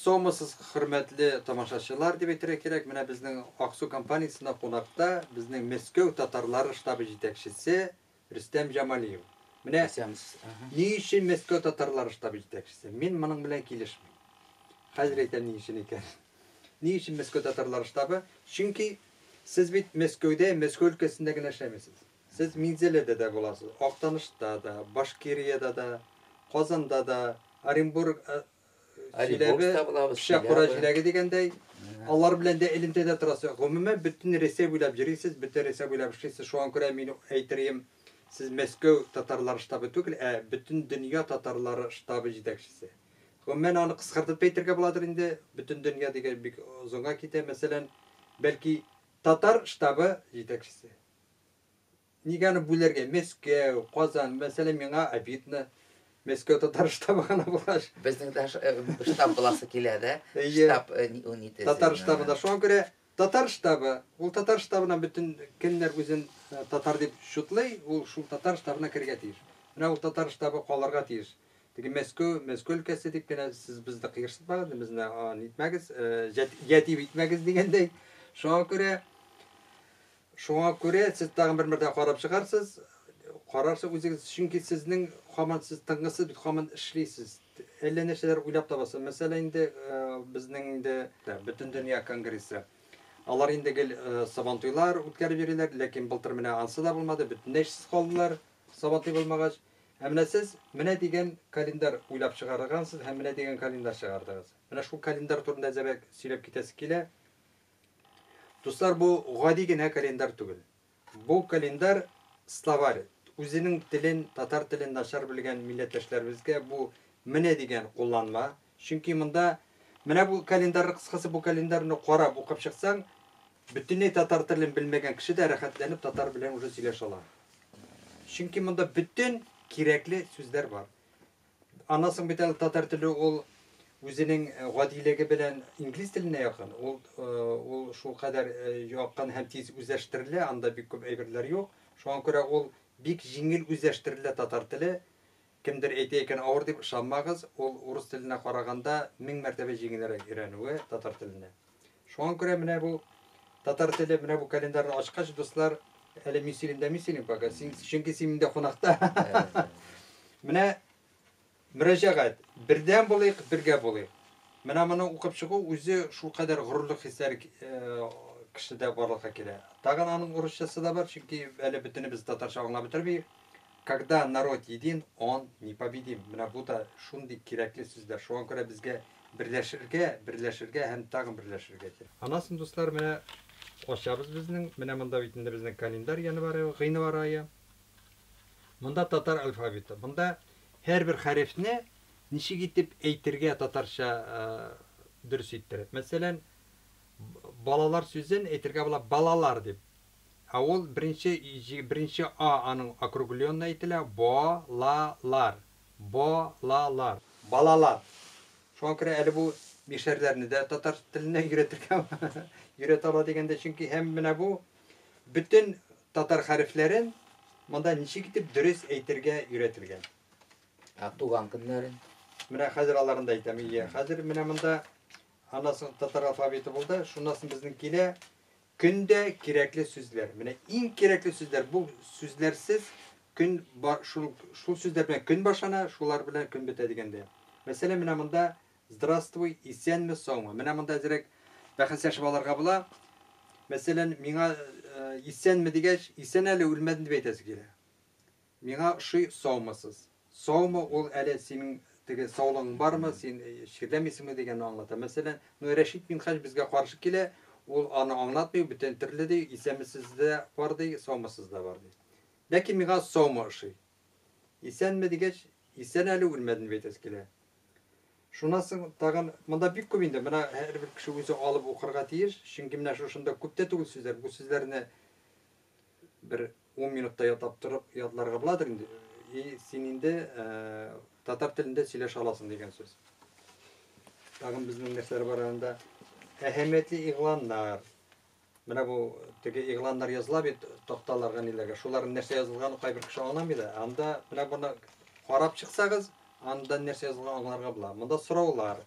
Сомасыз хөрмәтле тамашачылар дип әйтергә кирәк. Менә безнең Аксу компаниясендә кунакта безнең Мәскәү татарлары штабы җитәкчесе Рөстәм Җамалиев. Менә ни өчен Мәскәү татарлары штабы җитәкчесе? Мин моның белән килешмим. Хәзер әйтәм ни өчен икән. Ни өчен Мәскәү татарлары штабы? Чөнки сез бит Мәскәүдә, Мәскәү өлкәсендә генә эшләмисез. Сез Минзәләдә дә буласыз, Актанышта да, Башкириядә дә, Казанда да, Оренбург, Чиләбе, Пычакура җиләге дигәндәй, алар белән дә элемтәдә торасыз. Гомумән, бөтен Рәсәй буйлап йөрисез, бөтен Рәсәй буйлап эшлисез. Шуңа күрә мин әйтерием, сез Мәскәү татарлары штабы түгел, ә бөтен дөнья татарлары штабы җитәкчесе. Гомумән, аны кыскартып та әйтергә буладыр инде, бөтен дөнья дигәч бик озынга китә. Мәсәлән, бәлки, татар штабы җитәкчесе. Нигә аны бүләргә? Мәскәү, Казан, мәсәлән, миңа обидно. Мәскәү татар штабы гына булгач. Безнең дә штаб буласы килә дә. Штаб унитез. Татар штабы да шуңа күрә татар штабы. Ул татар штабына бөтен кемнәр үзен татар дип чутлый, ул шул татар штабына керергә тиеш. Менә ул татар штабы калырга тиеш. Теге Мәскәү, Мәскәү өлкәсе дип кенә сез безне кыерсытмагыз, безне нитмәгез, ятим итмәгез дигәндәй. Шуңа күрә Шуңа күрә сез тагын бер мәртәбә карап чыгарсыз, карарсыз үзегез, чөнки сезнең һаман сез тынгысыз бит, һаман эшлисез, әллә нәрсәләр уйлап табасыз. Мәсәлән, инде безнең инде Бөтендөнья конгрессы. Алар инде гел Сабантуйлар үткәреп йөриләр, ләкин былтыр менә ансы да булмады, бөтенләй эшсез калдылар, Сабантуй булмагач. Ә менә сез менә дигән календарь уйлап чыгаргансыз һәм менә дигән календарь чыгардыгыз. Менә шул календарь турында әзрәк сөйләп китәсе килә. Дуслар, бу гади генә календарь түгел. Бу календарь, словарь. Үзенең телен, татар телен начар белгән милләттәшләребезгә бу менә дигән кулланма. Чөнки монда, менә бу календарь, кыскасы, бу календарьны карап укып чыксаң, бөтенләй татар телен белмәгән кеше дә рәхәтләнеп татар белән уже сөйләшә ала. Чөнки монда бөтен кирәкле сүзләр бар. Аннан соң бит әле татар теле ул үзенең э, гадилеге белән инглиз теленә якын. Ул э, ул шул кадәр э, якын һәм тиз үзләштерелә, анда бик күп әйберләр юк. Шуңа күрә ул бик җиңел үзләштерелә татар теле. Кемдер әйтә икән авыр дип ышанмагыз, ул урыс теленә караганда мең мәртәбә җиңелрәк өйрәнүе татар теленә. Шуңа күрә менә бу татар теле, менә бу календарьны ачкач, дуслар, әле мин сөйлим дә мин сөйлим пока, син, чөнки син миндә кунакта. Менә мөрәҗәгать. Бердәм булыйк, бергә булыйк. Менә моны укып чыгу үзе шул кадәр горурлык хисләре э, кешедә барлыкка килә. Тагын аның урысчасы да бар, чөнки әле бөтенебез татарча аңлап бетермиек. Когда народ един, он непобедим. Менә бу да шундый кирәкле сүзләр. Шуңа күрә безгә берләшергә, берләшергә һәм тагын берләшергә кирәк. Аннан соң, дуслар, менә ачабыз безнең. Менә монда бит инде безнең календарь январь ае, гыйнвар ае. Монда татар алфавиты. Монда һәрбер хәрефне ничек итеп әйтергә татарча дөрес иттереп. Мәсәлән, балалар сүзен әйтергә була балалар дип. Ә ул беренче җи беренче а аның округленный әйтелә, бо ла лар, бо ла лар. Балалар. Шуңа күрә әле бу мишәрләрне дә татар теленә өйрәтергә өйрәтә ала дигәндә, чөнки һәм менә бу бөтен татар хәрефләрен монда ничек итеп дөрес әйтергә өйрәтелгән. Ә туган көннәрен? Менә хәзер аларны да әйтәм. Ие, хәзер менә монда аннан соң татар алфавиты булды, шуннан соң безнең килә, Көндә кирәкле сүзләр. Менә иң кирәкле сүзләр, бу сүзләрсез көн ба шул шул сүзләр белән көн башлана, шулар белән көн бетә дигәндә. Мәсәлән, менә монда Здравствуй, исәнме, саумы. Менә монда әзрәк бәхәсләшеп алырга була. Мәсәлән, миңа исәнме дигәч, исән әле, үлмәдем дип әйтәсе килә. Миңа ошый Саумысыз. Саумы ул әле синең теге саулыгың бармы, син чирләмисеңме дигәнне аңлата. Мәсәлән, ну Рәшит Минһаҗ безгә каршы килә, ул аны аңлатмый, бүтән төрле ди, исәнмесез дә бар ди, саумысыз да бар ди. Ләкин миңа Саумы ошый. Исәнме дигәч, исән әле, үлмәден дип әйтәсе килә. Шуннан соң тагын, монда бик күп инде, моны һәрбер кеше үзе алып укырга тиеш, чөнки менә шушында күп тә түгел сүзләр, бу сүзләрне бер Ун минутта ятлап торып ятларга буладыр инде. И син инде татар телендә сөйләшә аласың дигән сүз. Тагын безнең нәрсәләр бар анда? Әһәмиятле игъланнар. Менә бу теге игъланнар языла бит такталарга ниләргә. Шуларның нәрсә язылганын кайбер кеше аңламый да. Анда менә буны карап чыксагыз, анда нәрсә язылганын аңларга була. Монда сораулар.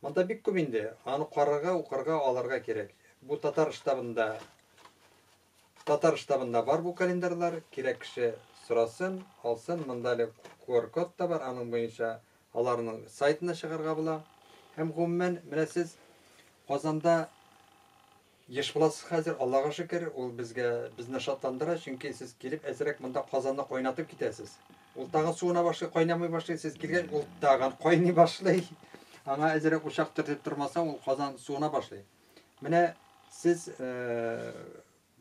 Монда бик күп инде. Аны карарга, укырга, аларга кирәк. Бу татар штабында Татар штабында бар бу календарьлар, кирәк кеше сорасын, алсын, монда әле QR-код та бар, аның буенча аларның сайтына чыгарга була. Һәм гомумән, менә сез Казанда еш буласыз хәзер, Аллага шөкер, ул безгә, безне шатландыра, чөнки сез килеп әзрәк монда Казанны кайнатып китәсез. Ул тагын суына башлый, кайнамый башлый, сез килгәч, ул тагын кайный башлый. Аңа әзрәк учак төртеп тормасаң, ул Казан суына башлый. Менә сез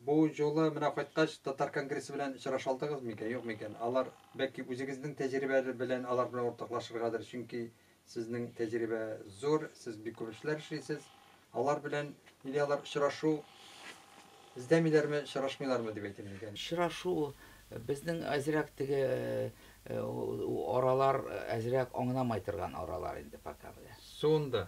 бу юлы менә кайткач татар конгрессы белән очраша алдыгыз микән, юк микән? Алар бәлки үзегезнең тәҗрибәләре белән алар белән уртаклашыргадыр, чөнки сезнең тәҗрибә зур, сез бик күп эшләр эшлисез. Алар белән или алар очрашу эзләмиләрме, очрашмыйлармы дип әйтим микән? Очрашу безнең әзрәк теге аралар әзрәк аңламай торган аралар инде пока менә. Суынды.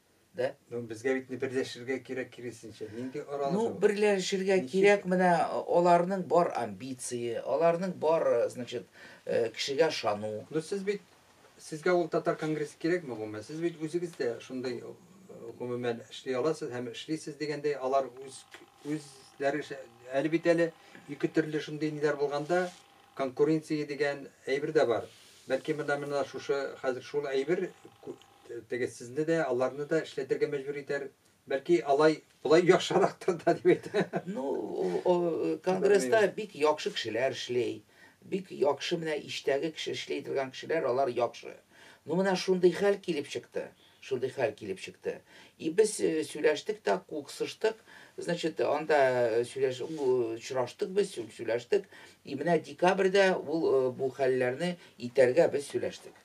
Да? Ну, безгә бит берләшергә кирәк киресенчә. Нинди аралашу? Ну, берләшергә кирәк менә аларның бар амбиции, аларның бар, значит, э, кешегә шану. Ну, сез бит сезгә ул татар конгрессы кирәкме гомумән? Сез бит үзегез дә шундый э, гомумән эшли аласыз һәм эшлисез дигәндәй, алар үз үзләре әле бит әле ике төрле шундый ниләр булганда конкуренция дигән әйбер дә бар. Бәлки монда менә шушы хәзер шул әйбер Теге сезне дә, аларны да эшләтергә мәҗбүр итәр. Бәлки алай, болай яхшырактыр да дип әйтә. Ну, конгресста бик яхшы кешеләр эшли. Бик яхшы менә иштәге кеше эшли торган кешеләр, алар яхшы. Ну, менә шундый хәл килеп чыкты. Шундый хәл килеп чыкты. И без э, сөйләштек тә, куксыштык. Значит, анда э, сөйләш, очраштык без, сөйләштек. И менә декабрьдә ул э, бу хәлләрне итәргә без сөйләштек.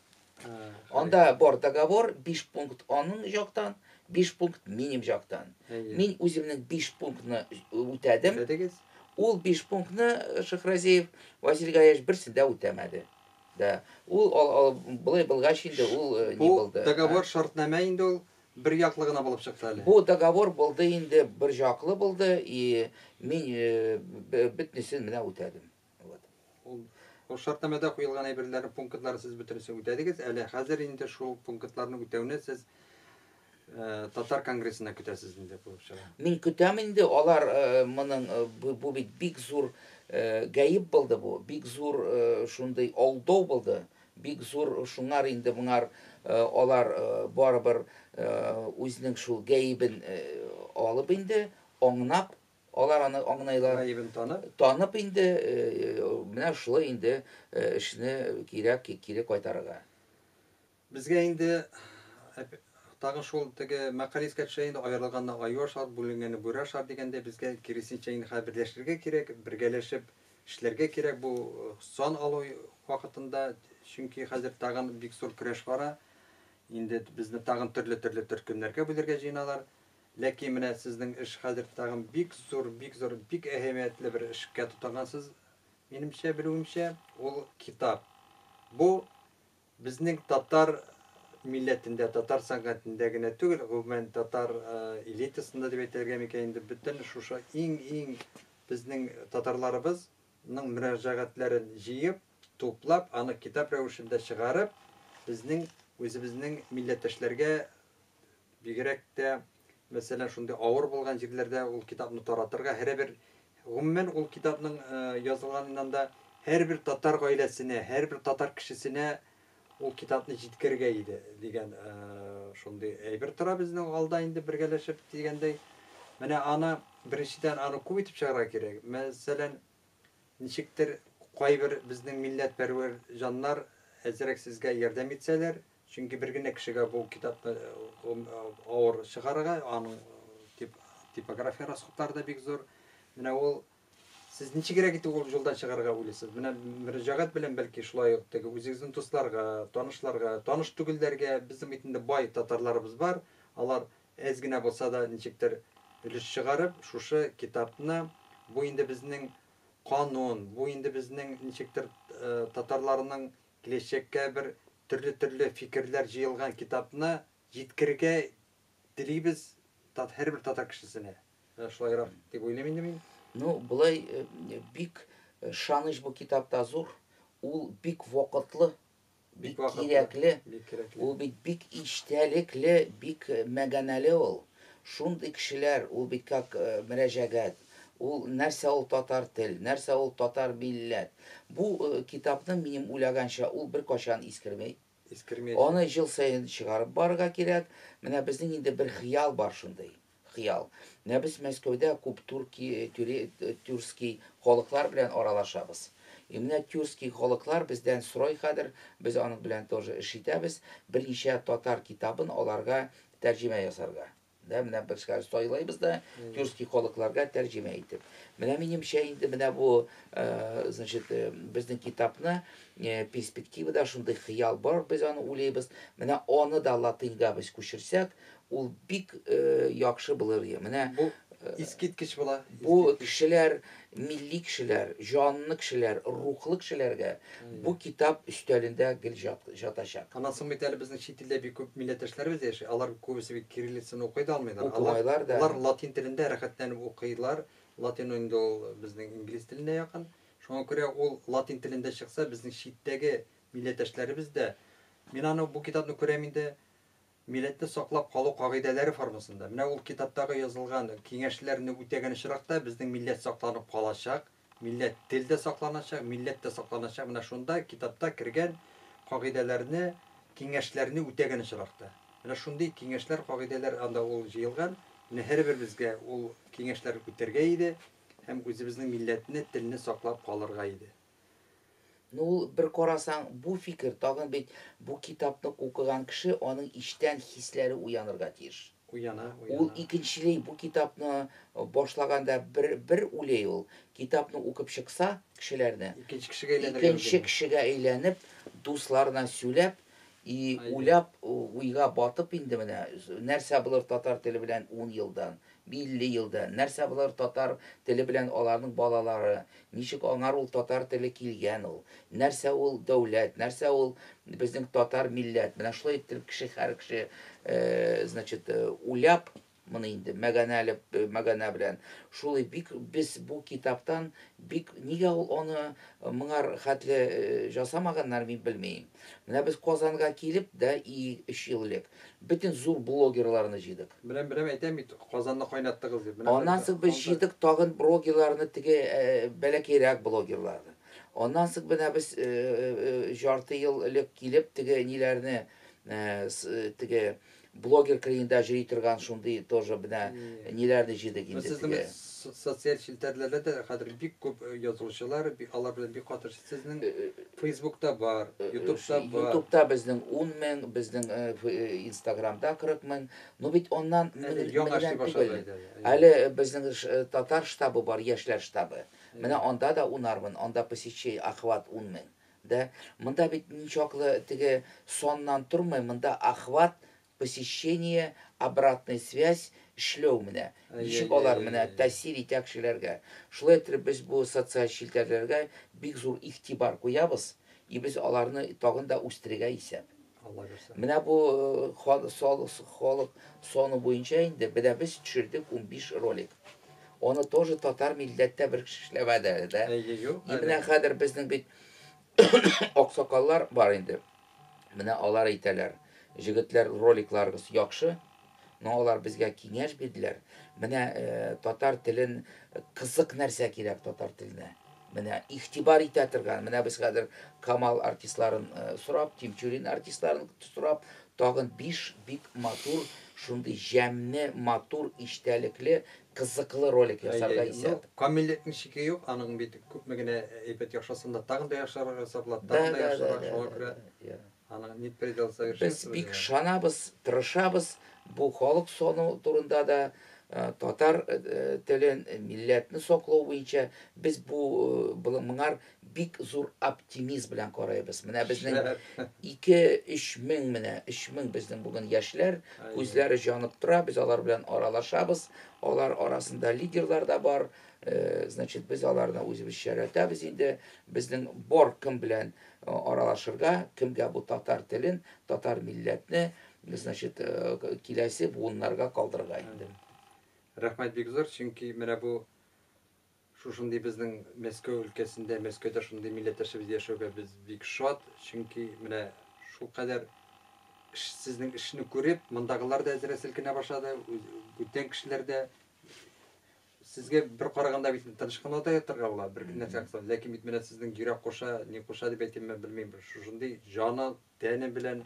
Анда бар договор 5 пункт аның яктан, 5 пункт минем яктан. Мин үземнең 5 пунктны үтәдем. Ул 5 пунктны Шахразеев Василий Гаевич берсендә үтәмәде. Да. Ул ал, ал, былай булгач инде ул э, не булды. Договор шартнамә инде ул бер яклы гына булып чыкты әле. Бу договор булды инде бер яклы булды и мин э, бөтнесен менә үтәдем. Вот. Ул Ул шартнамәдә куелган әйберләрне пунктлар сез бөтенесе үтәдегез. Әле хәзер инде шул пунктларны үтәүне сез э, татар конгрессына көтәсез инде булып чыга. Мин көтәм инде алар э, моның э, бу бит бик зур гаеп булды бу. Бик зур шундый алдау булды. Бик зур шуңар инде моңар алар барыбер үзенең шул гаебен алып инде аңнап Алар аны аңнайлар. Гаебен танып. Танып инде, менә шулай инде эшне кирәк кире кайтарырга. Безгә инде тагын шул теге мәкаль искә төшә инде, аерылганны аю ашар, бүленгәнне бүре ашар дигәндәй, безгә киресенчә инде хәзер берләшергә кирәк, бергәләшеп эшләргә кирәк бу сан алу вакытында, чөнки хәзер тагын бик зур көрәш бара. Инде безне тагын төрле-төрле төркемнәргә бүлергә җыеналар. Ләкин менә сезнең эш хәзер тагын бик зур, бик зур, бик әһәмиятле бер эшкә тотынгансыз, минемчә, белүемчә, ул китап. Бу безнең татар милләтендә, татар сәнгатендә генә түгел, гомумән, татар элитасында дип әйтергә микән инде, бөтен шушы иң-иң безнең татарларыбыз ның мөрәҗәгатьләрен җыеп, туплап, аны китап рәвешендә чыгарып, безнең үзебезнең милләттәшләргә Бигрәк тә, мәсәлән, шундый авыр булган җирләрдә ул китапны таратырга, һәрбер, гомумән, ул китапның язылганыннан да һәрбер татар гаиләсенә, һәрбер татар кешесенә ул китапны җиткерергә иде, дигән шундый әйбер тора безнең алда инде бергәләшеп дигәндәй. Менә аны, беренчедән, аны күп итеп чыгарга кирәк. Мәсәлән, ничектер кайбер безнең милләтпәрвәр җаннар әзрәк сезгә ярдәм итсәләр, Чөнки бер генә кешегә бу китапны авыр чыгарырга, аның типография расходлары да бик зур. Менә ул Сез ничегрәк итеп ул юлдан чыгарга уйлыйсыз? Менә мөрәҗәгать белән бәлки шулай ук теге үзегезнең дусларга, танышларга, таныш түгелләргә безнең бит инде бай татарларыбыз бар. Алар әз генә булса да ничектер өлеш чыгарып, шушы китапны бу инде безнең канун, бу инде безнең ничектер э, татарларның киләчәккә бер Төрле-төрле фикерләр җыелган китапны җиткерергә телибез һәрбер татар кешесенә. Менә шулайрак дип уйлыйм инде мин. Ну, болай бик ышаныч бу китапта зур. Ул бик вакытлы, бик кирәкле. Ул бит бик ичтәлекле, бик мәганәле ул. Шундый кешеләр, ул бит как мөрәҗәгать. Ул, нәрсә ул татар тел, нәрсә ул татар милләт. Бу китапның, минем уйлаганча, ул беркайчан искерми. Искермәячәк. Аны ел саен чыгарып барырга кирәк. Менә безнең инде бер хыял бар шундый, хыял. Менә без Мәскәүдә күп турки, тюре, тюркский халыклар белән аралашабыз. И менә тюркский халыклар бездән сорый хәзер, без аның белән тоже эш итәбез, берничә татар китабын аларга тәрҗемә ясарга. Да, менә бешкән сайлыйбыз да, тюркский халыкларга тәрҗемә итеп. Менә минемчә инде менә бу, э, значит, э, безнең китапны э, перспективада шундый хыял бар, без аны уйлыйбыз. Менә аны да латыньга без күчерсәк, ул бик э, яхшы булыр иде. Менә Бу искиткеч була. бу кешеләр Милли кешеләр, җанлы кешеләр, рухлы кешеләргә бу китап өстәлендә гел җатачак. Аннан соң бит әле безнең чит илдә бик күп милләттәшләребез дә яши. Алар күбесе бит кириллицаны укый да алмыйлар. Укымайлар да. Алар латин телендә рәхәтләнеп укыйлар. Латин инде ул безнең инглиз теленә якын. Шуңа күрә ул латин телендә чыкса, безнең читтәге милләттәшләребез дә, мин аны, бу китапны күрәм инде, Милләтне саклап калу кагыйдәләре формасында, менә ул китаптагы язылган киңәшләрне үтәгән очракта, безнең милләт сакланып калачак, милләт тел дә сакланачак, милләт тә сакланачак, менә шунда китапта кергән кагыйдәләрне, киңәшләрне үтәгән очракта. Менә шундый киңәшләр, кагыйдәләр анда ул җыелган. Менә һәрберебезгә ул киңәшләр үтәргә иде һәм үзебезнең милләтне, телне саклап калырга иде. Ну ул, бер карасаң, бу фикер тагын бит бу китапны укыган кеше аның ичтән хисләре уянырга тиеш. Уяна, уяна. Ул икенчели бу китапны башлаганда бер бер ули ул, китапны укып чыкса, кешеләрне. Икенче кешегә әйләнергә мөмкин. Икенче кешегә әйләнеп, дусларына сөйләп, и уйлап, уйга батып инде менә нәрсә булыр татар теле белән ун елдан, Милли елда, нәрсә булыр татар теле белән аларның балалары, ничек аңар ул татар теле килгән ул, нәрсә ул дәүләт, нәрсә ул безнең татар милләт, менә шулай иттереп кеше һәр кеше значит уйлап моны инде мәганәле мәганә белән шулай бик без бу китаптан бик нигә ул аны моңар хәтле жасамаганнар мин белмим. Менә без Казанга килеп дә и өч ел элек бөтен зур блогерларны җыйдык. Менә берәү әйтә бит, Казанны кайнаттыгыз дип. Аннан соң без җыйдык тагын брогерларны, теге бәләкәйрәк блогерларны. Аннан соң менә без җарты ел элек килеп теге ниләрне, теге Блогер кырыенда җөри торган шундый тоже бенә ниләрне җыйдык инде Сез теге. социаль челтәрләрдә дә хәзер бик күп э, язылучылар, алар белән бик каты сезнең э, э, Фейсбукта бар, Ютубта бар. Ютубта безнең 10 мең, безнең Инстаграмда 40 мең. Ну бит оннан яңа башлады. Әле безнең татар штабы бар, яшьләр штабы. Менә анда да унармын, анда посещение охват 10 мең. Да, монда бит ничаклы теге саннан тормый, монда охват, посещение, обратная связь, эшләү менә. Ничек алар менә тәэсир итә кешеләргә. Шулай иттереп без бу социаль челтәрләргә бик зур игътибар куябыз, и без аларны тагын да үстерергә исәп. Менә бу халык саны буенча инде менә без төшердек унбиш ролик. Аны тоже татар милләттә бер кеше эшләмәде әле дә. И менә хәзер безнең бит аксакаллар бар инде. Менә алар әйтәләр. Җегетләр роликларыгыз яхшы. Но алар безгә киңәш бирделәр, менә татар телен кызык нәрсә кирәк татар теленә. Менә игътибар итә торган, менә без хәзер Камал артистларын сорап, Тимчурин артистларын сорап, тагын 5 бик матур шундый җәмне, матур, иштәлекле, кызыклы ролик ясарга исәп. Ну, камиллектин шике юк, аның бит күпме генә әйбәт яхшысын да тагын да яхшырак ясап була, тагын да яхшырак, шуңа күрә Без бик ышанабыз, тырышабыз, бу халык сану турында да, татар телен, милләтне саклау буенча без бу моңар бик зур оптимизм белән карыйбыз. Менә безнең ике, өч мең, менә өч мең безнең бүген яшьләр, күзләре җанып тора, без алар белән аралашабыз, алар арасында лидерлар да бар, значит, без аларны үзебезчә яратабыз инде, безнең бар кем белән аралашырга, кемгә бу татар телен, татар милләтне, значит, киләсе буыннарга калдырырга инде. Рәхмәт бик зур, чөнки менә бу шушындый безнең Мәскәү өлкәсендә, Мәскәүдә шундый милләттәшебез яшәүгә без бик шат, чөнки менә шулкадәр сезнең эшне күреп, мондагылар да әзрәк селкенә башлады, бүтән кешеләр дә Сезгә бер караганда бит тыныч кына да ятырга була, бер нәрсә кылса. Ләкин бит менә сезнең йөрәк куша, ни куша дип әйтимме, белмим. Шушындый җаны, тәне белән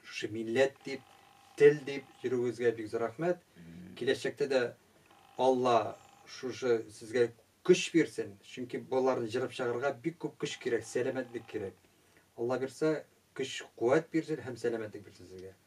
шушы милләт дип, тел дип йөрүегезгә бик зур рәхмәт. Киләчәктә дә Алла шушы сезгә көч бирсен. Чөнки боларны җырып чыгарга бик күп көч кирәк, сәламәтлек кирәк. Алла бирсә, көч, куәт бирсен һәм сәламәтлек бирсен сезгә.